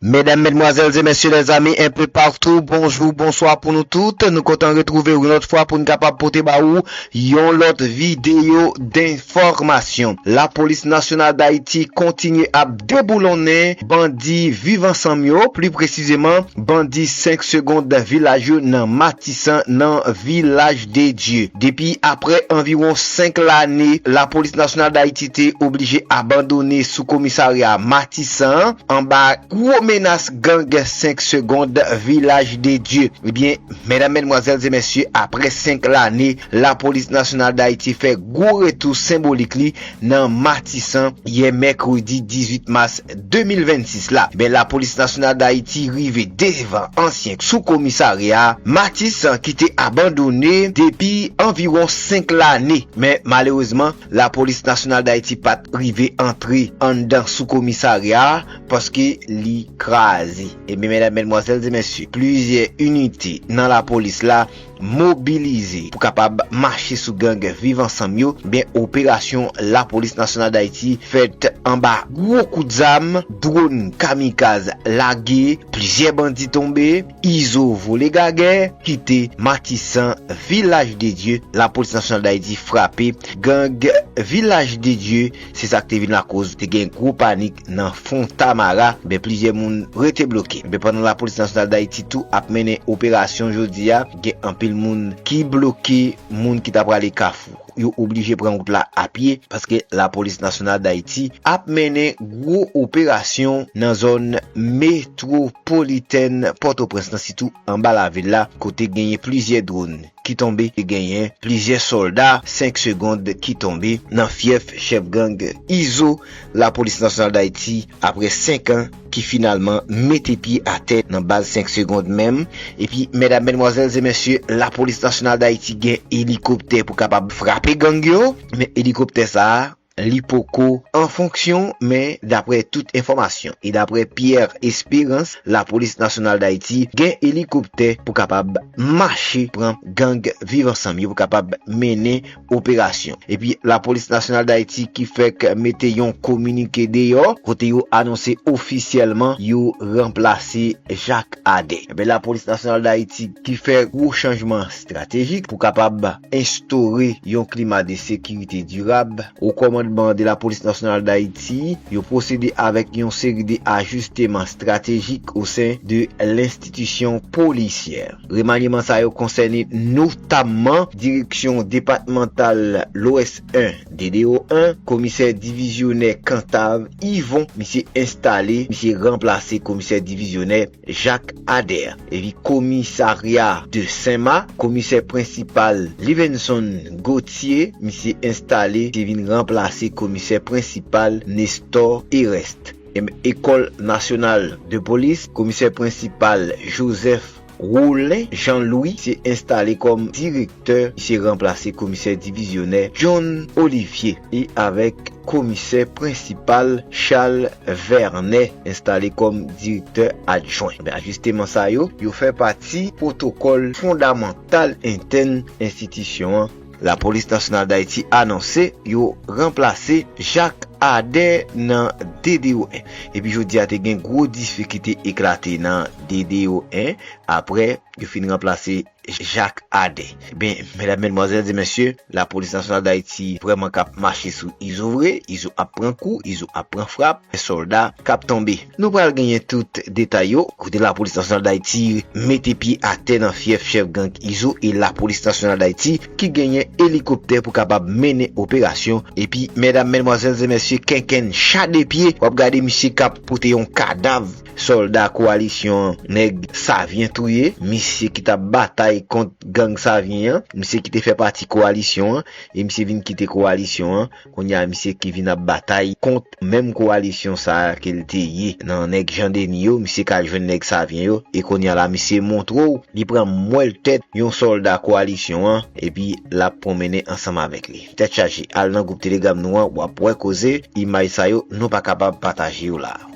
Medam, Medmwazèl e Mesye, Lèzami un peu partout, bonjou, bonswa pou nou tout. Nou kontan retwouve ou yon lòt fwa pou n kapab pote ba ou yon lòt videyo denfòmasyon. Lapolis Nasyonal Dayiti kontinye ap deboulonnen bandi Viv Ansanm yo, pli presizeman bandi 5 segond Vilaj yo nan Matisan nan Vilaj. de Dieu. Depi aprè anviwon 5 lane Lapolis Nasyonal Dayiti te oblije abandone sou komisarya Matisan an anba gwo menas gang 5 segond Vilaj de Dieu. Ebyen medam medmwazèl ze mesye aprè 5 lane Lapolis Nasyonal Dayiti fè gwo retou senbolik li nan Matisan yè mèkredi 18 mas 2026 la, men Lapolis Nasyonal Dayiti rive devan ansyen sou komisarya Matisan ki te abandone depi anviwon 5 lane, men malerezman Lapolis Nasyonal Dayiti pat rive antre anndan sou komisarya a paske li kraze. Ebyen medam, medmwazèl e mesye, plizyè inite nan Lapolis la mobilize pou kapab mache sou gang viv ansanm yo, ebyen operasyon lapolis nasyonal dayiti fèt anba gwo kout zam, dwon kamikaz lage, plizyè bandi tonbe, izo vole gagè, kite matisan vilaj de dye lapolis nasyonal dayiti frape gang vilaj de dye. Se sa k te vin lakoz te gen gwo panik nan Fontamara, men plizyè moun rete bloke. Men pandan Lapolis Nasyonal Dayiti tou ap mennen operasyon jodi a, gen anpil moun ki bloke, moun ki ta prale Kafou, yo oblije pran wout la apye, paske Lapolis Nasyonal Dayiti ap mennen gwo operasyon nan zòn metwopolitèn Pòtoprens lan, sitou anba lavil la, kote genyen plizyè dronn. ki tonbe te genyen plizyè sòlda 5 segond ki tonbe nan fyèf chèf gang Izo Lapolis Nasyonal Dayiti aprè 5 an ki finalman mete pye atè nan baz 5 segond menm epi mèdam mèdmwazèl se mèsye Lapolis Nasyonal Dayiti gen elikoptè pou kapab frape gang yo men elikoptè sa. li poko an fonksyon men daprè tout enfòmasyon e daprè Pierre Esperance lapolis nasyonal dayiti gen elikoptè pou kapab mache pran gang viv ansanm yo pou kapab mennen operasyon epi lapolis nasyonal dayiti ki fèk mete yon kominike deyò kote yo anonse ofisyèlman yo ranplase Jacques Ader enben lapolis nasyonal dayiti ki fè gwo chanjman estratejik pou kapab. enstore yon klima de sekirite dirab. O kòmandman de Lapolis Nasyonal Dayiti, yo pwosede avèk yon seri de ajisteman estratejik osen de lenstitisyon polisyè. Remanyeman sa yo konsène notamman Direksyon Depatmantal Lwès 1, DDO 1, Komisè Divizyonè Kantav Yvon, misye enstale, misye ranplase Komisè Divizyonè. Jacques Ader eli komisarya de Senma, komisè prensipal Livenson Gauthier misye enstale te vin ranplase komisè prensipal Nestor Ereste. Ecole nationale de police, komisè prensipal Joseph Rolin Jean Louis misye enstale kòm direktè. Direktè se ranplase Komisè Divizyonè John Olivier e avèk Komisè Prensipal Charles Vernet enstale kòm Direktè Adjwen. Ajisteman sa yo, yo fè pati pwotokòl fondamantal entèn enstitisyon an. Lapolis Nasyonal Dayiti anonse yo ranplase Jacques Ader nan DDO 1. Epi jodi a te gen gwo difikite eklate nan DDO 1 aprè yo fin ranplase Jacques Adé. Ebyen, medam, medmwazèl, di mesye, la polis nasyonal dayiti vrèman k ap mache sou izo vre, izo ap pran kou, izo ap pran frap, gen sòlda k ap tonbe. Nou pral genyen tout detay yo, kote la polis nasyonal dayiti mete pye atè nan fyèf chèf gang izo e la polis nasyonal dayiti ki genyen elikoptè pou kapab mennen operasyon epi medam, medmwazèl, e mesye kenkenn cha de pye w ap gade misye k ap pote yon kadav Sòlda kowalisyon an nèg Savyen touye, misye ki t ap batay kont gang Savyen an, misye ki te fè pati kowalisyon an e misye vin kite kowalisyon an, kounye a misye ki vin ap batay kont menm kowalisyon sa a ke l te ye nan nèg Jan Deni yo, misye k al jwenn nèg Savyen yo e kounye a la misye montre w li pran mwèl tèt yon sòlda kowalisyon an epi l ap pwonmennen ansanm avèk li. Tèt chaje, al nan gwoup telegram nou an w ap wè koze, imaj sa yo nou pa kapab pataje yo la a.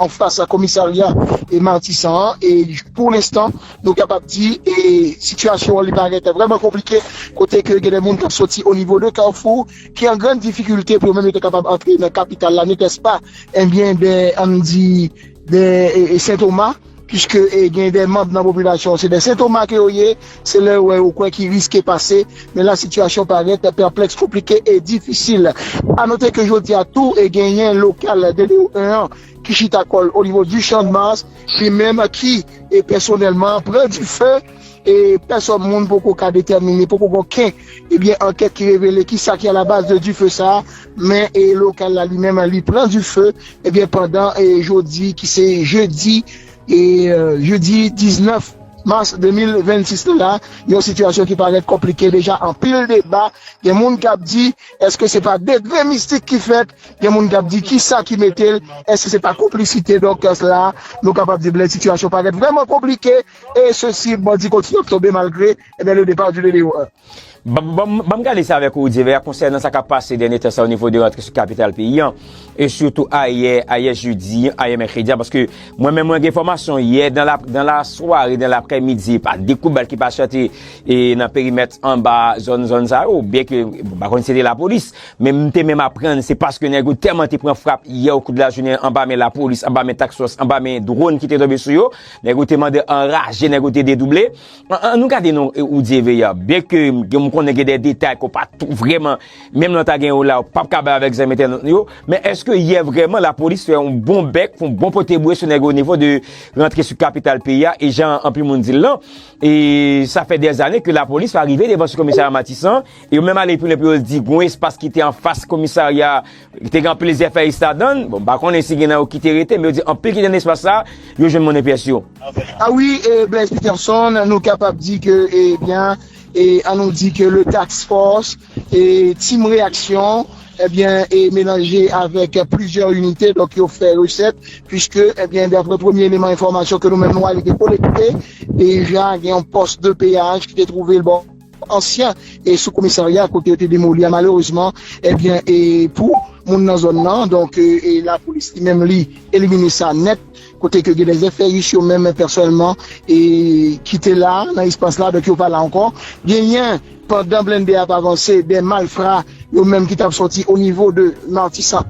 Anfas komisarya Matisan an e pou lenstan nou kapab di e sitiyasyon an li parèt vrèman konplike kote ke gen de moun kap soti onivo de Kafou ki an grann difikilte pou yo menm yo te kapab antre nan kapital la netèspa enbyen de ann di de Sentoma. Piske gen de manb nan popilasyon se de sentoma ke yo ye, se lè yo wè yo kwè ki riske pase, men la sitiyasyon parèt pèplèks, konplike e difisil. A note ke jodi a tou genyen lokal DDO 1 an ki chita kòl onivo Duchamp Mars, li menm ki pèsonèlman pran dife. e pèsòn moun poko ka detèmine, poko gen oken ebyen ankèt ki revele kisa ki alabaz de dife sa a, men e lokal la li menm li pran dife ebyen pandan e jodi ki se jedi e jedi 19 mas 2026 la, yon sitiyasyon ki parèt konplike deja anpil deba, gen moun kap di èske se pa degre mistik ki fèt, gen moun kap di kisa ki mete l, èske se pa konplisite dòk la, nou kapab di blè sitiyasyon parèt vrèman konplike. E se si bandi kontinye ap tonbe malgre eh le depart du Bebe Oa. Ban m gade sa avèk ou, Dyevè, konsènan sa k ap pase dènye tan sa a onivo de rantre sou kapital peyi an, e sitou ayè, ayè jedi, ayè mèkredi a, paske mwen menm mwen gen enfòmasyon yè dan lasware, dan laprèmidi, pa de kout bal ki pa chante nan perimèt anba zòn zòn sa yo, byen ke m pa konn si se te lapolis, men m te menm aprann se paske nèg yo tèlman te pran frap yè okou de lajounen anba men lapolis, anba men taksòs, anba men dwòn ki te tonbe sou yo. Nèg yo te mande anraje, nèg yo te dedouble. An nou gade non Roudy et Veer, byen ke m konnen gen de detay ke w pa tou vreman, menm lè w ta gen yo la, w pap ka bay avèk zanmi entènot nou yo, men eske yè vreman lapolis fè yon bon bèk, fè yon bon pote bouye sou nèg yo o nivo de rantre sou kapital peyi a, e jan anpil moun di l lan, e sa fè dè zane ke lapolis pa rive devan sou komisarya Matisan, e yo menm ale pi lwen pou yo di gon espas ki te anfas komisarya. Te gen anpil zèfèyis ladann, bon m pa konnen si gen nan yo ki te rete men yo di anpil ki te nan espas sa yo jwenn monnen pyès yo. A wi e Blaise Peterson nou kapab di ke e byen e an nou di ke le tax force e team reyaksyon e byen e melanje avèk plizyè inite donk yo fè resèt puiske e byen daprè premye eleman enfòmasyon ke nou menm nou arive kolekte deja gen yon post de peyaj ki te twouve l bò ansyen sou komisarya kote yo te demoli a malerezman ebyen e pou moun nan zòn nan donk e lapolis li menm li elimine sa nèt kote ke gen de zèfèris yo menm pèsonèlman e ki te la nan espas la donk yo pa la ankò genyen pandan blende ap avanse de malfra yo menm ki tap sòti o nivo de matisan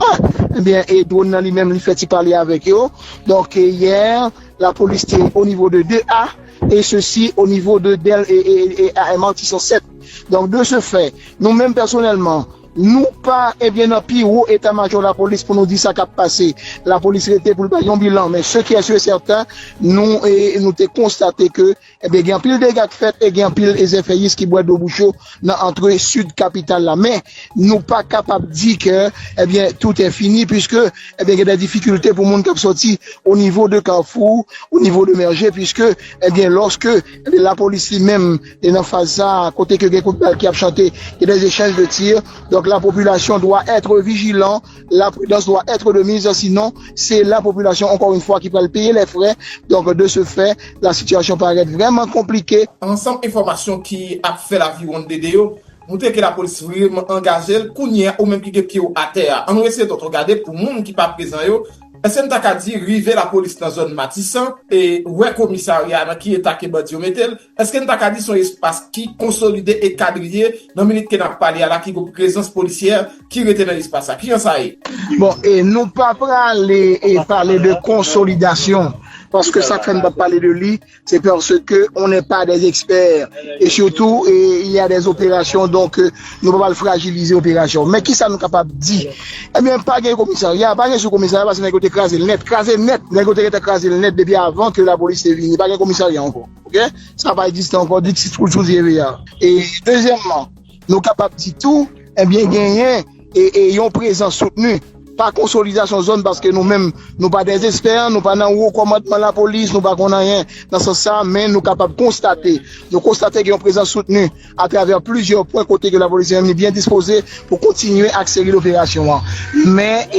1 ebyen e dwòn nan li menm li fè ti pale avèk yo donk yè lapolis te o nivo de 2 a. et ceci au niveau de Dell et et et Martison 7 donc de ce fait nou menm pèsonèlman nou pa ebyen nan pi wo eta majò lapolis pou nou di sa kap pase lapolis rete pou l bay yon bilan men ce qui est sur et certain nou nou te konstate ke ebyen gen anpil dega k fèt e gen anpil zèfèyis ki bwè dlo bouch yo nan antre sid kapital la men nou pa kapab di ke ebyen tout è fini puiske ebyen gen dè difikilte pou moun kap soti o nivo de kafou o nivo de mèje puiske ebyen lòske ebyen la polis li menm e nan faz sa kote ke gen kout bal ki ap chante gen dè echanj de tir donk la popilasyon dwa etre vijilan. La prudence doit etre de mise si non se la population encore une fois ki pral peye les frais donc de ce fait la situation parait vraiment compliqué. Ansanm enfòmasyon ki ap fè laviwonn DD yo moutre ke lapolis vreman angaje l kounye a ou menm ki gen pye w atè a annou eseye tonton gade pou moun ki pa prezan yo èske n ta ka di rive lapolis nan zòn matisan e wè komisarya a nan ki eta ke bandi yo mete l Eske n ta ka di se yon espas ki konsolide e kadriye nan minit ke n ap pale a la ki gen yon prezans polisyè ki rete nan espas sa? Kijan sa ye? Bon, e nou pa prale e pale de konsolidasyon paske sa k fè n pa pale de li se paske on nè pa dè ekspè e sitou e il ya dè operasyon donk nou pa pral frajilize operasyon men kisa nou kapab di ebyen pa gen komisarya pa gen sou komisarya paske nèg yo te kraze l nèt kraze nèt nèg yo te gentan kraze l nèt depi avan ke lapolis te vini pa gen komisarya ankò. Ok sa pa egziste ankò dixit sou tv a e dezyèmman nou kapab di tou ebyen genyen e yon prezans soutni pa konsolidasyon zòn paske nou menm nou pa dè espè nou pa nan wo kòmandman lapolis nou pa konn anyen nan sans sa men nou kapab konstate nou konstate gen yon prezans soutni atravè plizyè pwen kote ke lapolis menm li byen dispoze pou kontinye ak seri doperasyon an men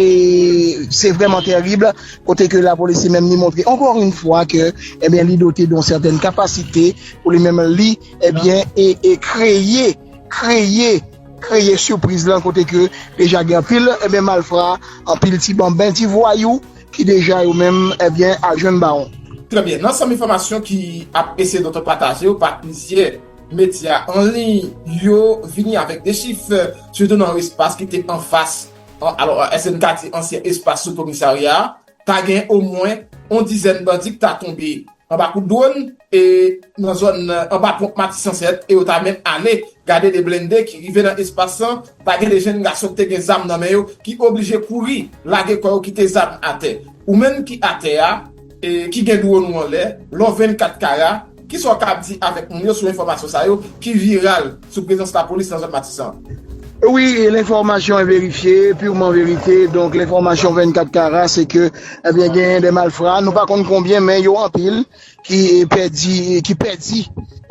se vrèman terib kote ke lapolis li menm li montre ankò yon fwa ke ebyen li dote de yon sètèn kapasite pou li menm li ebyen e kreye kreye kreye sipriz lan kote ke deja gen anpil ebyen malfra anpil ti banben ti vwayou ki deja yo menm ebyen al jwenn bawon. Trè byen, nan sòm enfòmasyon ki ap eseye dote pataje yo pa plizyè. Medya an liy yo vini avèk de chif, sitou nan yon espas ki te anfas, alò èske n ka di ansyen espas sou komisarya a, ta gen omwen yon dizèn bandi ki ta tonbe anba kout dwòn e nan zòn anba ponp Matisan 7 e yo ta menm ale gade de blende ki rive nan espas lan, ta gen de jenn gason ki te gen zam nan men yo ki oblije kouri lage kò yo kite zam atè. Ou menm ki atè a e ki gen dwòn ou anlè, lò 24 kara, Kisa w ka di avèk moun yo sou enfòmasyon sa yo ki viral sou prezans lapolis nan zòn Matisan an? Wi, lenfòmasyon enverifye, pirman verite, donk lenfòmasyon 24 kara se ke ebyen genyen de malfra, nou pa konn konbyen men yo anpil ki pèdi, ki pèdi,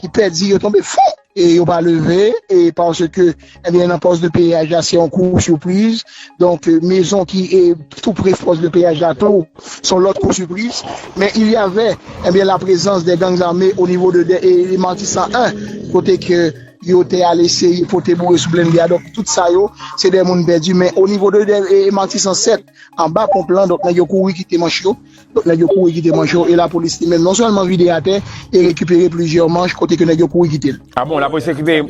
ki pèdi, yo tonbe fon! e yo pa leve e paske ebyen nan pòs de peyaj la se yon kou soupriz donk mezon ki e tou pre pòs de peyaj la tou son lòt kou soupriz men il yave ebyen la prezans de gang zame o nivo de de e matisan 1 kote ke yo te ale se yi pote boure sou blende a donk tout sa yo se de moun pèdi men o nivo de de e matisan 7 anba ponp lan donk nèg yo kouri kite manch yo Lòt nèg yo kouri kite manch yo e lapolis li menm non sèlman vide atè e rekipere plizyè manch kote ke nèg yo kouri kite l. A bon, lapolis rekipere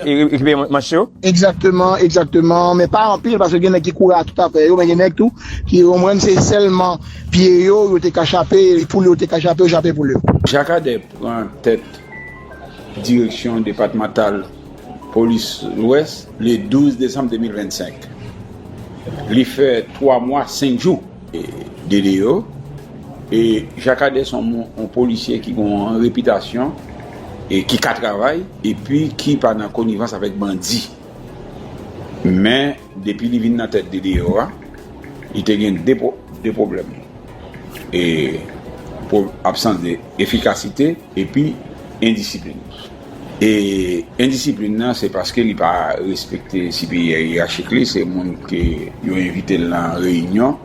manch yo? Egzakteman, egzakteman, men pa anpil paske gen nèg ki kouri a tout afè yo men gen nèg tou ki konprann se sèlman pye yo, yo te ka chape, poul yo te ka chape, yo chape poul yo. Jacques Ader pran tèt Direksyon depatmantal polis Lwès le 12 desanm 2025. Li fè 3 mwa 5 jou. DDO, e Jakadè son yon polisye ki gon yon repitasyon e ki ka travay epi ki pa nan konivans avèk bandi. Men depi li vin nan tèt DDO a, li te gen de pwoblèm, e absans de efikasite epi endisiplin. E endisiplin nan se paske li pa respekte siperyè yerachik li, se moun ke yo envite l nan reyinyon,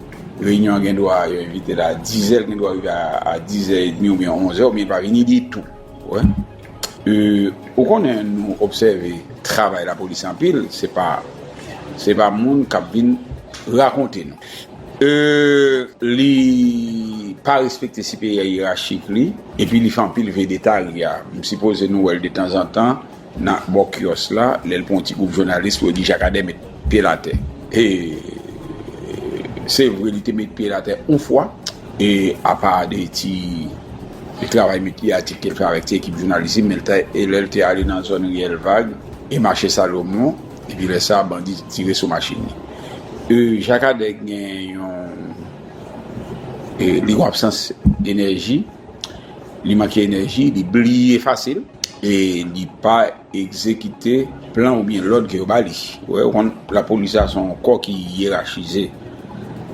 reyinyon an gen dwa yo envite l a dizè, l gen dwa rive a dizè edmi oubyen onzè oubyen pa vini ditou. Ou konnen nou obsève travay lapolis anpil, se pa se pa moun k ap vin rakonte nou. E li pa respekte siperyè yerachik li, epi li fè anpil vedetarya. M sipoze nou wè l detanzantan nan bò kyòs la, lè l pran yon ti gwoup jounalis pou yo di Jakadè met pye l atè. E se vre li te met pye l atè yon fwa, e apa de ti travay met pye atik ke l fè avèk ti ekip jounalis li, men lè l te ale nan zòn Riyèl Vag e mache Salomon, Epi lè sa bandi tire sou machin li. Jakadè gen yon li gon absans enèji, li manke enèji, li bliye fasil e li pa egzekite plan oubyen lòd ke yo ba li. Wè ou konn lapolis la se yon kò ki yerachize.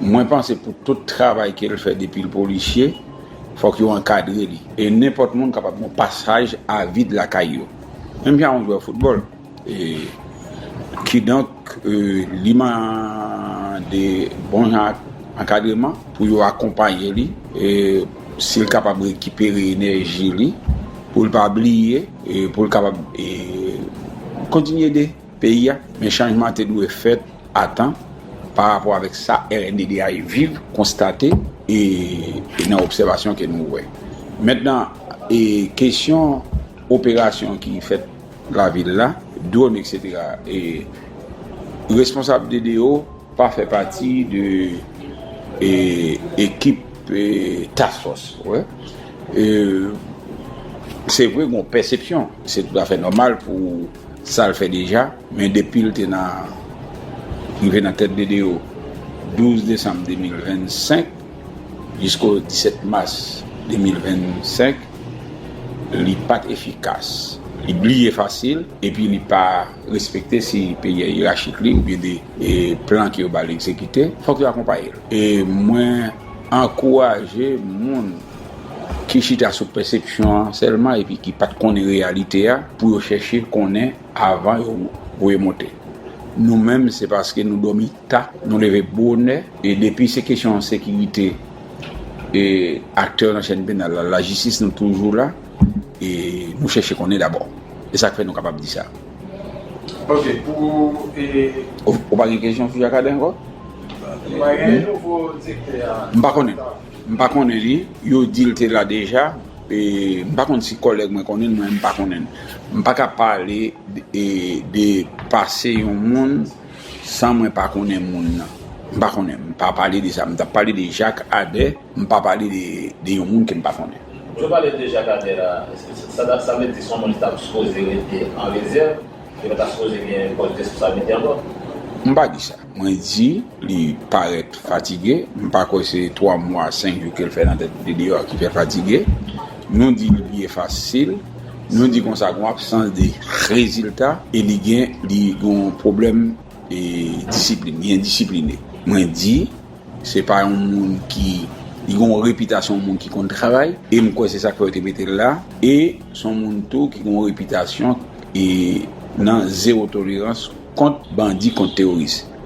Mwen panse pou tout travay ke l fè depi l polisye, fòk yo ankadre li. E nenpòt moun kapab gon pasaj avid lakay yo. Menm jan yon jwè foutbòl. Kidonk, li mande bon jan ankadreman pou yo akonpaye li, si l kapab rekipere enèji li, pou l pa bliye, pou l kapab kontinye ede peyi a. Men chanjman te dwe fèt a tan pa rapò avèk sa rnddh viv, konstate e nan obsèvasyon ke nou wè. Mentnan, kesyon operasyon ki fèt. Lavil la, dwòn etc. E responsab DDO pa fè pati de ekip task force. Se vre gon pèsepsyon, se tout afè nòmal pou sa l fè deja, men depi l te nan rive nan tèt DDO 12 desanm 2025, Jisko 17 mas 2025, li pat efikas, li bliye fasil epi li pa respekte si peyi a yerachik li oubyen de plan ke yo ba li egzekite, fòk yo akonpaye l. E mwen ankouraje moun ki chita sou pèsepsyon an sèlman epi ki pat konnen reyalite a pou yo chèche konnen avan yo voye monte. Nou menm se paske nou dòmi. Ta, nou leve bonè e depi se kesyon sekirite e aktè nan chèn penal la, lajistis nou toujou la e nou chèche konnen dabò. E sa k fè nou kapab di sa. Ok, pou e. Ou pa gen kesyon sou Jakadè ankò? M pa gen e nouvo direktè a. M pa konnen. M pa konnen li. Yo di l te la deja e m pa konn si kòlèg mwen konnen l mwen menm m pa konnen l. M pa ka pale e de pase yon moun San mwen pa konnen moun nan. M pa konnen. M pa pale de sa. M t ap pale de Jak Adè. M pa pale de yon moun ke m pa konnen. Lè w pale de Jak Adè la, sa vle di se yon moun ki t ap sipoze rete an rezèv, li pa ta sipoze gen pòs responsablite ankò? M pa di sa. Mwen di li parèt fatige. M pa kwè se 3 mwa, 5 jou ke l fè nan tèt li deyò a ki fè l fatige. Nou di li bliye fasil. Nou di konsa gon absans de rezilta e li gen li gon pwoblèm e disiplin li endisipline mwen di se pa yon moun ki li gon repitasyon yon moun ki konn travay e m kwè se sak fè yo te mete l la e s on moun tou ki gon repitasyon e nan zewo tolerans kont bandi kont teworis.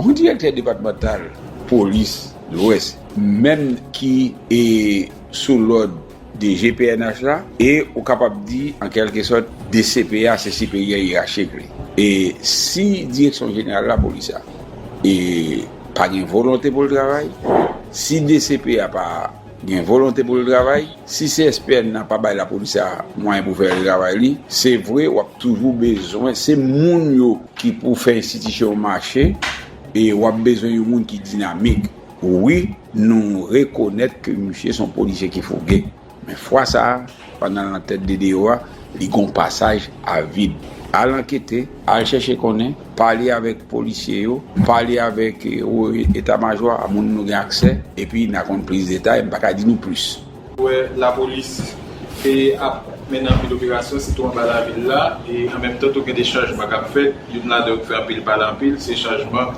Yon direktè depatmantal polis lwès menm ki e sou lòd DG pnh la e ou kapab di an kèlke sòt DCP a se siperyè yerachik li e si direksyon jeneral lapolis la e pa gen volonte pou l travay si DCP a pa Gen volonte pou l travay. Si CSPN nan pa bay lapolis sa a mwayen pou fè travay li, se vre w ap toujou bezwen, se moun yo ki pou fè enstitisyon yo mache e w ap bezwen yon moun ki dinamik. Wi, nou rekonèt ke misye se yon polisye ki fouge. Men fwa sa a. Pandan l nan tèt DDO a, li gen yon pasaj a vid. Al ankete, al chèche konnen, pale avèk polisye yo, pale avèk wo eta majò a, moun nou gen aksè, epi n a konn plis detay, m pa ka di nou plis. Nou wè lapolis te ap mennen anpil operasyon, sitou anba lavil la, e an menm tan tou gen de chajman k ap fèt, youn ladan yo k fè anpil pale anpil, se chajman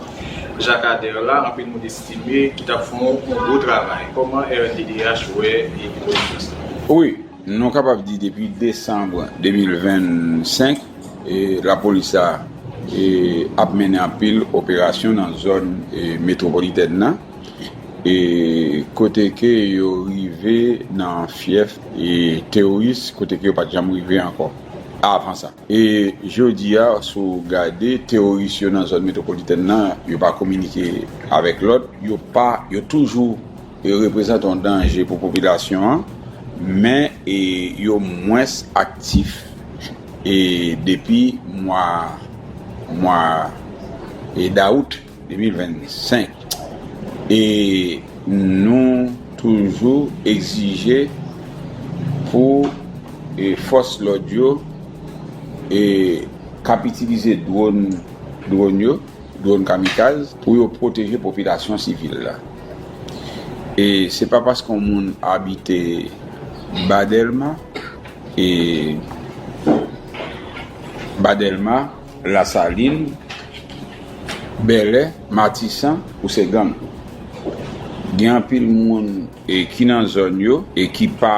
Jakadè la, anpil moun. Timmy ki tap fon yon gwo travay. Koman rnddh wè epizod Frans lan? Wi, nou kapab di depi desanm 2025 lapolis la ap mennen anpil operasyon nan zòn metwopolitèn nan kote ke yo rive nan fyèf teworis kote ke yo pat janm rive ankò avan sa. E jodi a, si w gade, teworis yo nan zòn metwopolitèn nan, yo pa kominike avèk lòt, yo pa, yo toujou reprezante yon danje pou popilasyon an, men yo mwens aktif depi mwa, mwa dawout. 2025 e nou toujou egzije pou fòs lòd yo k ap itilize dwòn, dwòn yo, dwòn kamikaz, pou yo pwoteje popilasyon sivil la. E se pa paske yon moun abite Ba Dèlma e Ba Dèlma. Lasalin, Bèlè, Matisan ou se gang. Gen anpil moun ki nan zòn yo e ki pa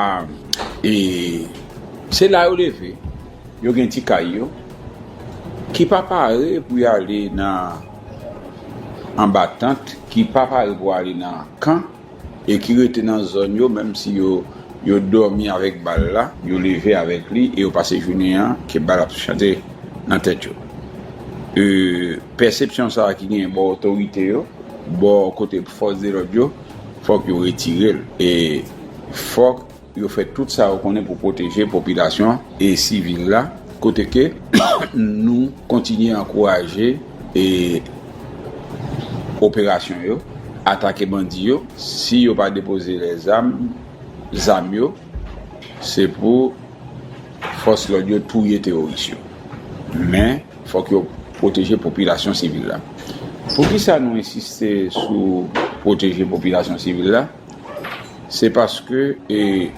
e se la yo leve, yo gen ti kay yo, ki pa pare pou y ale nan anba tant, ki pa pare pou ale nan kan. e ki rete nan zòn yo menm si yo yo dòmi avèk bal la yo leve avèk li e yo pase jounen an ke bal ap chante nan tèt yo e pèsepsyon sa ki gen bò otorite yo bò kote fòs de lòd yo fòk yo retirel e fòk Yo fè tout sa yo konnen pou pwoteje popilasyon e sivil la, kote ke nou kontinye ankouraje e operasyon yo, atake bandi yo, si yo pa depoze lèzam, zam yo, se pou fòs lòd yo touye teworis yo. Men, fòk yo pwoteje popilasyon sivil la. Poukisa nou ensiste sou pwoteje popilasyon sivil la? Se paske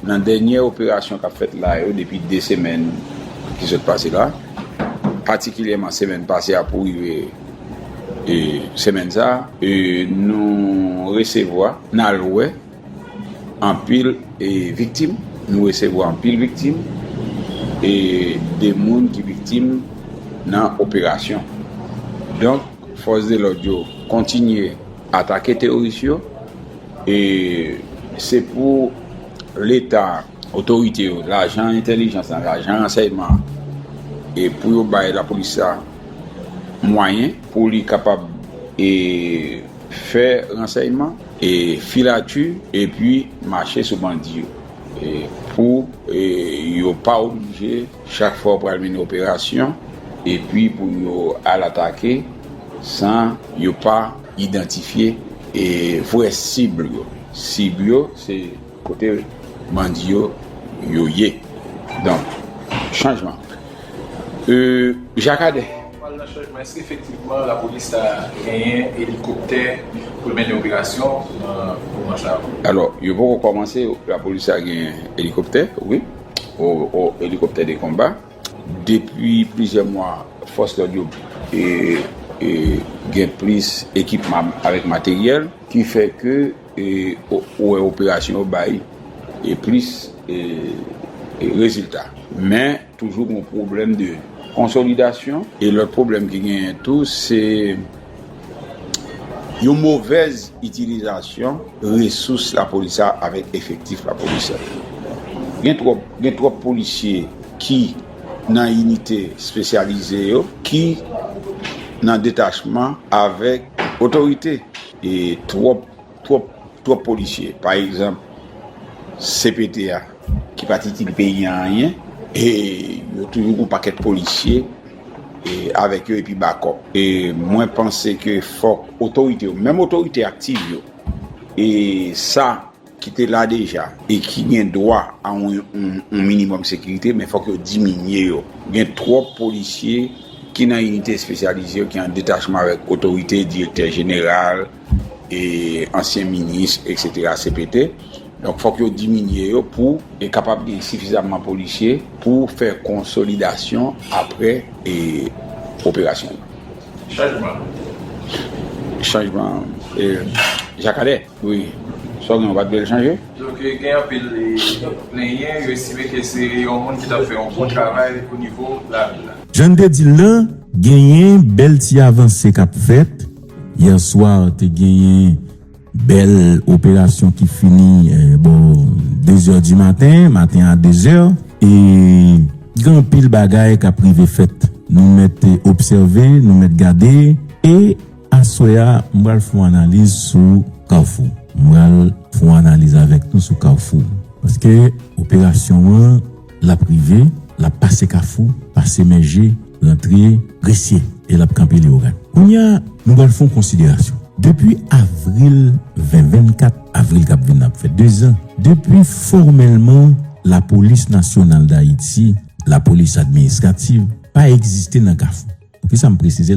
nan dènyè operasyon k ap fèt la yo depi 2 semèn ki sot pase la, patikilyèman semèn pase a pou rive semèn sa a, nou resevwa, n al wè anpil viktim, nou resevwa anpil viktim e de moun ki viktim nan operasyon. Fòs de lòd yo kontinye atake teworis yo e se pou leta, otorite yo, lajan entèlijans lan, lajan ransèyman an e pou yo bay lapolis la mwayen pou li kapab e fè ransèyman e filati epi mache sou bandi yo e pou yo pa oblije. Chak fwa ou pral mennen operasyon epi pou yo al atake san yo pa idantifye vrè sib yo. Sib yo se kote bandi yo yo ye. Donk chanjman. E Jakadè. Ou pral nan chanjman. Èske efektivman lapolis ta genyen elikoptè pou l mennen operasyon nan moman sa yo? Alò, yo poko kòmanse. Lapolis ta genyen elikoptè, wi. o elikoptè de konba. Depi plizyè mwa, fòs lòd yo gen plis ekipman avèk materyèl ki fè ke ou wè operasyon yo bay plis rezilta. Men, toujou gen yon pwoblèm de konsolidasyon. E lòt pwoblèm ki genyen tou se Yon movèz itilizasyon resous lapolis la avèk efektif lapolis la. Gen twòp, gen twòp polisye ki nan inite espesyalize yo, ki nan detachman avèk otorite. E twòp. Twòp twòp polisye pa egzanp CPT a ki pat itil peyi an anyen e yo toujou gon pakèt polisye e avèk yo epi bakòp e mwen panse ke fòk otorite yo menm otorite aktiv yo e sa ki te la deja e ki gen dwa a yon minimòm sekirite men fòk yo diminye yo gen twòp polisye ki nan inite espesyalize yo ki an detachman avèk otorite direktè jeneral. e ansyen minis eksetera cpt donk fòk yo diminye yo pou e kapab gen sifizamman polisye pou fè konsolidasyon apre e operasyon yo. Chanjman. Chanjman e Jakadè wi sa w gen w pa t vle l chanje? Donk gen anpil e plenyen yo estime ke se yon moun ki t ap fè yon bon travay o nivo lavil la. Jan n te di l lan, genyen bèl ti avanse k ap fèt Hier soir te genyen bèl operasyon ki fini bò 2 zè di maten, maten a 2 zè. E gen anpil bagay kap rive fèt. Nou mèt obsève, nou mèt gade. E aswè a m pral fon analiz sou Carrefour. M pral fon analiz avèk nou sou Carrefour. Paske operasyon an. Lap rive, lap pase kafou, pase mèje, rantre gresye e lap kanpe leogan. Kounye a, nou pral fè yon konsiderasyon. Depi avril 2024, avril kap vini ap fè dezan, depi fòmèlman Lapolis Nasyonal Dayiti, Lapolis Administrativ, pa egziste nan kafou. Poukisa m presize?